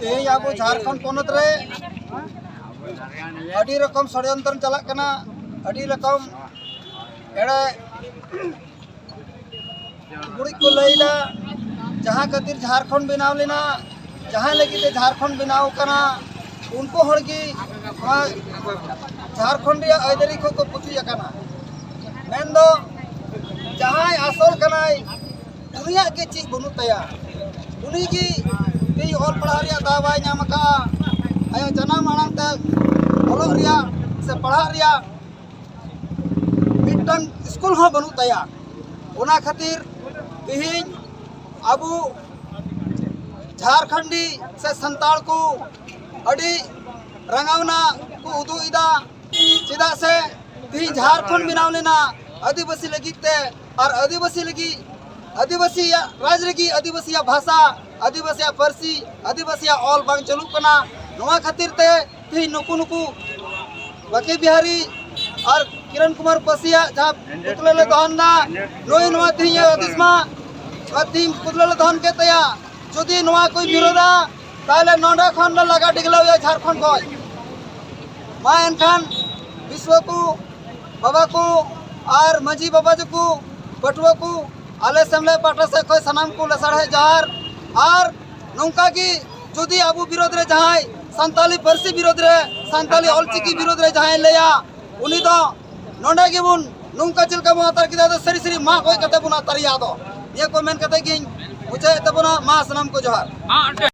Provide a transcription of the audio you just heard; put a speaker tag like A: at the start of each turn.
A: ᱛᱮᱦᱮᱧ ᱟᱵᱚ ᱡᱷᱟᱲᱠᱷᱚᱸᱰ ᱯᱚᱱᱚᱛ ᱨᱮ ᱟᱹᱰᱤ ᱨᱚᱠᱚᱢ ᱥᱚᱲᱭᱚᱱᱛᱨᱚ ᱪᱟᱞᱟᱜ ᱠᱟᱱᱟ ᱟᱹᱰᱤ ᱨᱚᱠᱚᱢ ᱮᱲᱮ ᱜᱩᱲᱤᱡ ᱠᱚ ᱞᱟᱹᱭᱫᱟ ᱡᱟᱦᱟᱸ ᱠᱷᱟᱹᱛᱤᱨ ᱡᱷᱟᱲᱠᱷᱚᱸᱰ ᱵᱮᱱᱟᱣ ᱞᱮᱱᱟ ᱡᱟᱦᱟᱸ ᱞᱟᱹᱜᱤᱫ ᱛᱮ ᱡᱷᱟᱲᱠᱷᱚᱸᱰ ᱵᱮᱱᱟᱣ ᱠᱟᱱᱟ ᱩᱱᱠᱩ ᱦᱚᱲ ᱜᱮ ᱱᱚᱣᱟ ᱡᱷᱟᱲᱠᱷᱚᱸᱰ ᱨᱮᱭᱟᱜ ᱟᱹᱭᱫᱟᱹᱨᱤ ᱠᱚᱠᱚ ᱯᱩᱪᱩᱡ ᱟᱠᱟᱱᱟ ᱢᱮᱱᱫᱚ ᱡᱟᱦᱟᱸᱭ ᱟᱥᱚᱞ ᱠᱟᱱᱟᱭ ᱩᱱᱤᱭᱟᱜ ᱜᱮ ᱪᱮᱫ ᱵᱟᱹᱱᱩᱜ ᱛᱟᱭᱟ ᱩᱱᱤ ᱜᱮ ᱛᱮᱦᱮᱧ ᱚᱞ ᱯᱟᱲᱦᱟᱣ ᱨᱮᱭᱟᱜ ᱫᱟᱣ ᱵᱟᱭ ᱧᱟᱢ ᱟᱠᱟᱫᱼᱟ ᱟᱭᱟᱜ ᱡᱟᱱᱟᱢ ᱟᱲᱟᱝ ᱛᱮ ᱚᱞᱚᱜ ᱨᱮᱭᱟᱜ ᱥᱮ ᱯᱟᱲᱦᱟᱜ ᱨᱮᱭᱟᱜ ᱢᱤᱫᱴᱟᱝ ᱥᱠᱩᱞ ᱦᱚᱸ ᱵᱟᱹᱱᱩᱜ ᱛᱟᱭᱟ ᱚᱱᱟ ᱠᱷᱟᱹᱛᱤᱨ ᱛᱮᱦᱮᱧ ᱟᱵᱚ ᱡᱷᱟᱨᱠᱷᱚᱸᱰᱤ ᱥᱮ ᱥᱟᱱᱛᱟᱲ ᱠᱚ ᱟᱹᱰᱤ ᱨᱟᱸᱜᱟᱣᱱᱟ ᱠᱚ ᱩᱫᱩᱜ ᱮᱫᱟ ᱪᱮᱫᱟᱜ ᱥᱮ ᱛᱮᱦᱮᱧ ᱡᱷᱟᱨᱠᱷᱚᱸᱰ ᱵᱮᱱᱟᱣ ᱞᱮᱱᱟ ᱟᱹᱫᱤᱵᱟᱹᱥᱤ ᱞᱟᱹᱜᱤᱫ ᱛᱮ ᱟᱨ ᱟᱹᱫᱤᱵᱟᱹᱥᱤ ᱞᱟᱹᱜᱤᱫ ᱟᱹᱫᱤᱵᱟᱹᱥᱤᱭᱟᱜ ᱨᱟᱡᱽ ᱞᱟᱹᱜᱤᱫ ᱟᱹᱫᱤᱵᱟᱹᱥᱤᱭᱟᱜ ᱵᱷᱟᱥᱟ ᱟᱹᱫᱤᱵᱟᱹᱥᱤᱭᱟᱜ ᱯᱟᱹᱨᱥᱤ ᱟᱹᱫᱤᱵᱟᱹᱥᱤᱭᱟᱜ ᱚᱞ ᱵᱟᱝ ᱪᱟᱹᱞᱩᱜ ᱠᱟᱱᱟ ᱱᱚᱣᱟ ᱠᱷᱟᱹᱛᱤᱨ ᱛᱮ ᱛᱮᱦᱮᱧ ᱱᱩᱠᱩ ᱱᱩᱠᱩ ᱵᱟᱠᱤ ᱵᱤᱦᱟᱨᱤ ᱟᱨ ᱠᱤᱨᱚᱱ ᱠᱩᱢᱟᱨ ᱯᱟᱹᱥᱤᱭᱟᱜ ᱡᱟᱦᱟᱸ ᱯᱩᱛᱞᱟᱹ ᱞᱮ ᱫᱚᱦᱚᱱ ᱫᱟ ᱱᱩᱭ ᱱᱚᱣᱟ ᱛᱮᱦᱮᱧ ᱦᱩᱫᱤᱥ ᱢᱟ ᱱᱚᱣᱟ ᱛᱮᱦᱮᱧ ᱯᱩᱛᱞᱟᱹ ᱞᱮ ᱫᱚᱦᱚᱱ ᱠᱮᱫ ᱛᱟᱭᱟ ᱡᱩᱫᱤ ᱱᱚᱣᱟ ᱠᱚᱭ ᱵᱤᱨᱳᱫᱟ ᱛᱟᱦᱞᱮ ᱱᱚᱰᱮ ᱠᱷᱚᱱ ᱞᱮ ᱞᱟᱜᱟ ᱰᱤᱜᱽᱞᱟᱹᱣᱮᱭᱟ ᱡᱷᱟᱲᱠᱷᱚᱸᱰ ᱠᱷᱚᱱ ᱢᱟ ᱮᱱᱠᱷᱟᱱ ᱵᱤᱥᱥᱚ ᱠᱚ ᱵᱟᱵᱟ ᱠᱚ ᱟᱨ ᱢᱟᱹᱡᱷᱤ ᱵᱟᱵᱟ ᱡᱚᱠᱚ ᱯᱟᱹᱴᱷᱩᱣᱟᱹ ᱠᱚ ᱟᱞᱮ ᱥᱮᱢᱞᱮᱫ ᱯᱟᱦᱴᱟ ᱥᱮᱫ ᱠᱷᱚᱱ ᱥᱟᱱᱟᱢ ᱠᱚ ᱞᱮᱥᱟᱲᱦᱮᱫ ᱡᱚᱦᱟᱨ ᱟᱨ ᱱᱚᱝᱠᱟ ᱜᱮ ᱡᱩᱫᱤ ᱟᱵᱚ ᱵᱤᱨᱳᱫᱷ ᱨᱮ ᱡᱟᱦᱟᱸᱭ ᱥᱟᱱᱛᱟᱞᱤ ᱯᱟᱹᱨᱥᱤ ᱵᱤᱨᱳᱫᱷ ᱨᱮ ᱥᱟᱱᱛᱟᱞᱤ ᱚᱞᱪᱤᱠᱤ ᱵᱤᱨᱳᱫᱷ ᱨᱮ ᱡᱟᱦᱟᱸᱭ ᱞᱟᱹᱭᱟ ᱩᱱᱤ ᱫᱚ ᱱᱚᱰᱮ ᱜᱮᱵᱚᱱ ᱱᱚᱝᱠᱟ ᱪᱮᱫ ᱞᱮᱠᱟ ᱵᱚᱱ ᱟᱛᱟᱨ ᱠᱮᱫᱟ ᱫᱚ ᱥᱟᱹᱨᱤ ᱥᱟᱹᱨᱤ ᱢᱟᱜ ᱜᱚᱡ ᱠᱟᱛᱮ ᱵᱚᱱ ᱟᱛᱟᱨᱮᱭᱟ ᱟᱫᱚ ᱱᱤᱭᱟᱹ ᱠᱚ ᱢᱮᱱ ᱠᱟᱛᱮ ᱜᱤᱧ ᱢᱩᱪᱟᱹᱫ ᱮᱫ ᱛᱟᱵᱚᱱᱟ ᱢᱟ ᱥᱟᱱᱟᱢ ᱠᱚ ᱡᱚᱦᱟᱨ